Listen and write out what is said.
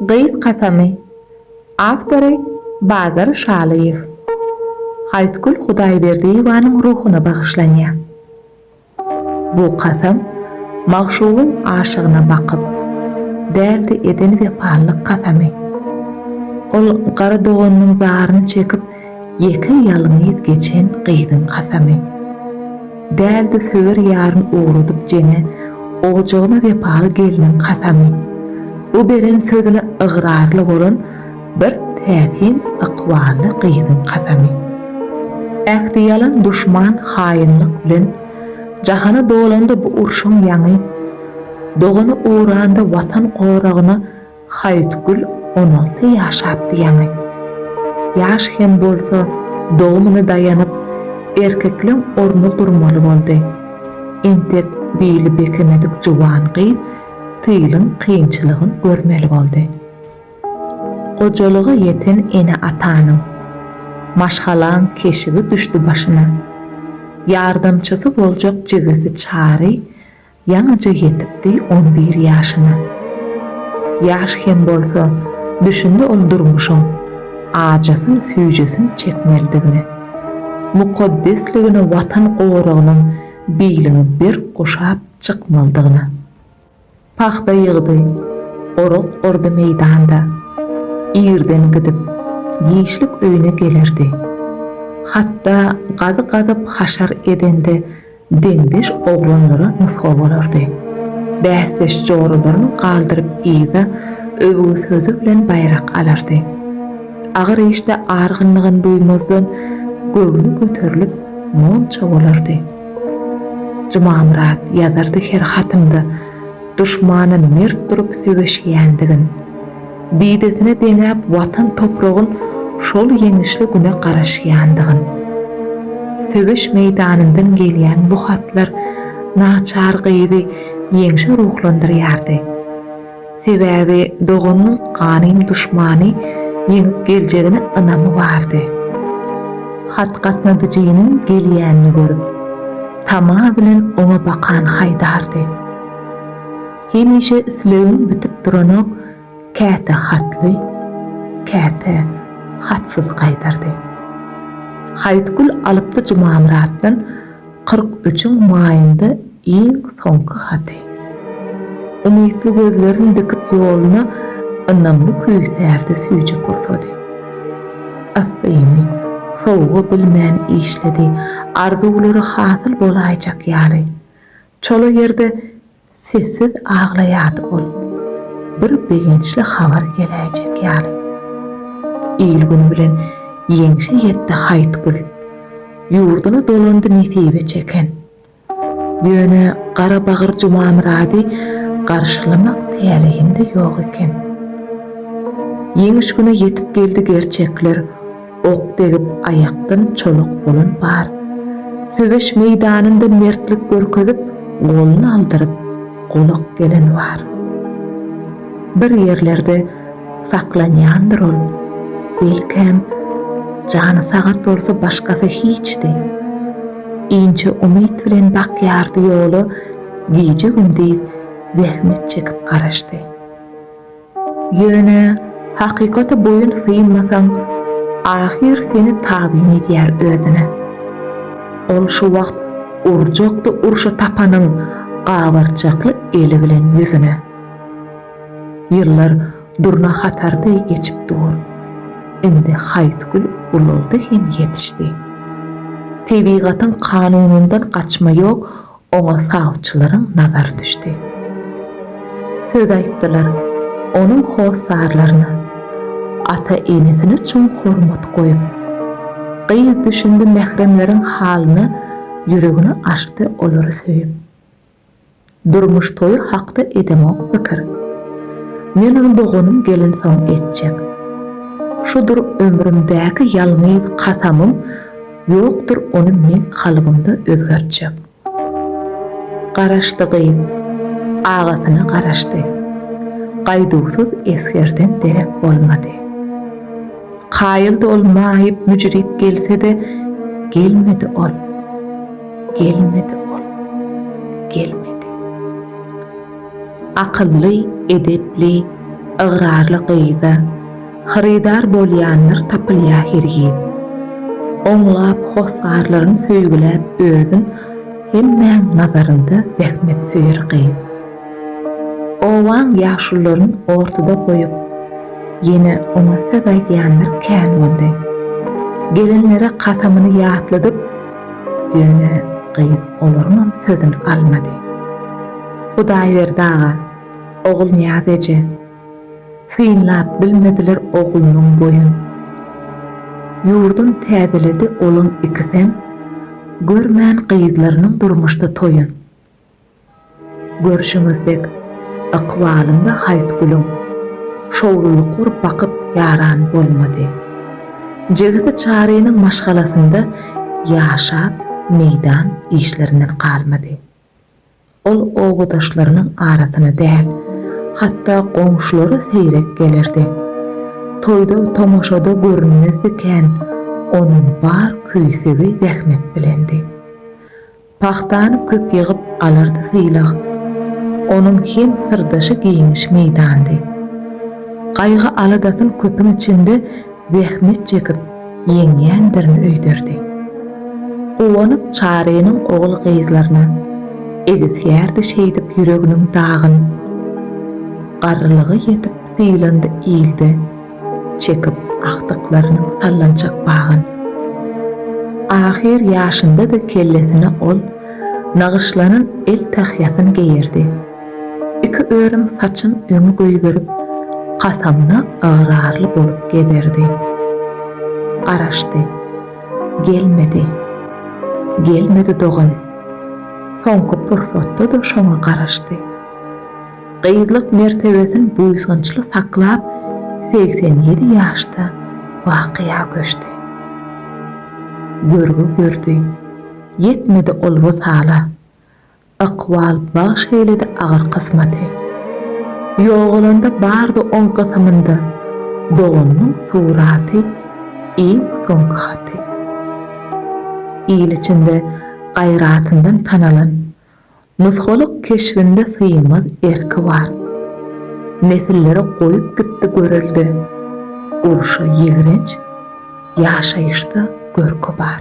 Gyz kasamy. Awtory, Bazar Şalyýew. Haýtgül Hudaýberdiýewanyň ruhuna bagyşlanýar. Bu kasam magşugyň aşygyna bakyp, däldi eden wepalylyk kasamy. Ol gara doganynyň zaryny çekip, Ýeke ýalňyz geçen gyzyň kasamy. Däldi söwer ýaryn ugradyp jeňe Ojagyna wepaly gelniň kasamy. Bu beren sözüne ygrarly bolan Bir täsin ykbally gyzyň kasamy. Ähti ýalan duşman haýynlyk bilen Jahana dolanda bu urşuň ýaňy. Dogany uranda Watan goragyna Haýytgül on alty ýaşapdy ýaňy. Ýaş hem bolsa, dogumyna daýanyp, erkekleň ornuna durmaly boldy. Entek bili bekemedik juwan gyz tylyň kynçylygyn görmeli boldy. Gojalyga ýeten ene-atanyň, maşgalaň keşigi düşdi başyna. Ýardamçysy boljak jigisi Çary Ýaňyja ýetipdi on bir ýaşyna. Ýaş hem bolsa, düşündi ol durmuşyň ajysyn-süýjüsini çekmelidigine. Mukaddesligine Watan goragynyň biliňi berk guşap çykmalydygyna. Pagta ýygdy, orak ordy meýdanda. Irden gidip, giçlik öýüne gelerdi. Hatda gazy gazyp haşar edende deňdeş oglanlara nusga bolardy. Bäsdeş joralaryny galdyryp yza öwgi sözi bilen baýrak alardy. Agyr işde argynlygyny duýmazdan, göwni göterilip, monça bolardy. Jumamyrat ýazardy her hatynda duşmana mert durup söweşýändigin. Didesine deňäp Watan topragyn şol ýeňişli güne garaşýandygyn. Söweş meýdanyndan gelýän bu hatlar naçar gyzy ýeňşe ruhlandyrýardy. Sebäbi doganynyň ganym duşmany ýeňip geljegine ynamy bardy. Hat gatnadyjynyň gelýänini görüp, tama bilen oňa bakan haýdardy. Hemişe islegim bitip duranok, käte hatly, käte hatsyz gaýdardy. Haýytgül alypdy Jumamyratdan kyrk üçüň maýynda iň soňky haty. Umytly gözlerin dikip ýoluna ynamly küýsärdi süýji pursady. Yssyny, sowugy bilmän işledi, arzuwlary hasyl bolaýjak ýaly. Çola ýerde Sessiz aglaýardy ol. Bir begençli habar geläýjek ýaly. Il-gün bilen ýeňşe ýetdi Haýtgül. Ýurduna dolandy nesibe çeken. Ýöne Garabagyr Jumamyrady garşylamak täleýinde ýok eken. Ýeňiş güni ýetip geldi gerçekler. Ok degip aýakdan çoluk bolan bar. Söweş meýdanynda mertlik görkezip, goluny aldyryp, golak gelen bar. Bir ýerlerde saklanýandyr ol. Belkäm, jany sagat bolsa başgasy hiçdi. Inçe umyt bilen bakýardy ýola, gije-gündiz zähmet çekip garaşdy. Ýöne hakykata boýun synmasaň, ahyr seni tabyn edýär özüne. Ol şu wagt urjakdy urşa tapanyň gabarçakly eli bilen ýüzüne. Ýyllar durna hatar deý geçip dur. Indi haýt gül ulaldy hem ýetişdi. Tebigatyň kanunyndan gaçma ýok, Oňa sawçylaryň nazary düşdi. Söz aýtdylar onuň hossarlaryna. Ata-enesine çuň hormat goýup, gyz düşündi mähremleriň halyna ýüregini açdy olary söýüp. Durmuş toýy hakda edemok pikir. Men ony doganym gelinsoň etjek. Şudur ömrümdäki ýalňyz kasamym Ýokdur ony meň kalbymda özgertjek. Garaşdy gyz. Agasyna garaşdy. Gaýduwsyz esgerden derek bolmady. Kaýyldy ol maýyp müjrip gelse-de, gelmedi ol. Gelmedi ol. Gelmedi. Akylly, edepli, ygrarly gyza. Hyrydar bolýanlar tapylýa hergiz. Oňlap hossarlaryn söýgüläp özün hemmäň nazarynda zähmetsöýer gyz. Obaň ýaşullaryn ortada goýup ýene oňa söz aýdýanlar kän boldy. Gelenlere kasamyny ýatladyp ýöne gyz olaryňam sözün almady. Hudaýberdi aga, Ogulnyýaz eje. Synlap bilmediler oglunyň boýun. Ýurdun täzeledi olaň ikisem, Görmän gyzlarynyň durmuşda toýun. Görşüňiz dek, ykbalyň we Haýtgülüň Şowlulyklar bakyp ýaran bolmady. Jigisi Çarynyň maşgalasynda ýaşap, meýdan işlerinden galmady. Ol obadaşlarynyň arasyna däl, hatda goňşulara seýrek gelerdi. Toýda, tomaşada görünmezdi kän, onuň bar küýsegi zähmet bilendi. Pagtany köp ýygyp alardy sylag. Onuň hem syrdaşy giňiş meýdandy. Gaýgy-aladasyn köpüň içinde zähmet çekip ýeňýändirin öýderdi. Guwanyp Çarynyň ogul-gyzlaryna egisýärdi şeýdip ýüreginiň dagyn. Garrylygy ýetip sylandy ilde çekip agtyklarynyň sallançak bagyn. Ahyr ýaşynda-da kellesine ol nagyşlanan el tahýasyn geýerdi. Iki örüm saçyn öňe goýberip, kasamyna ygrarly bolup gezerdi. Garaşdy. Gelmedi. Gelmedi dogan. Soňky pursatda-da şoňa garaşdy. Gyzlyk mertebesin buýsançly saklap, segsen ýedi ýaşda bakyýa göçdi. Görgi gördi. Ýetmedi ol wysala. Ykbal bagş eýledi agyr kysmaty. Ýogalanda bardy oň gysymynda Doganynyň suraty, iň soňky haty. Il içinde gaýratyndan tanalan, Nusgalyk keşbinde synmaz erki bar. Nesillere goýup gitdi görelde, Urşa ýigrenç, ýaşaýyşda görki bar.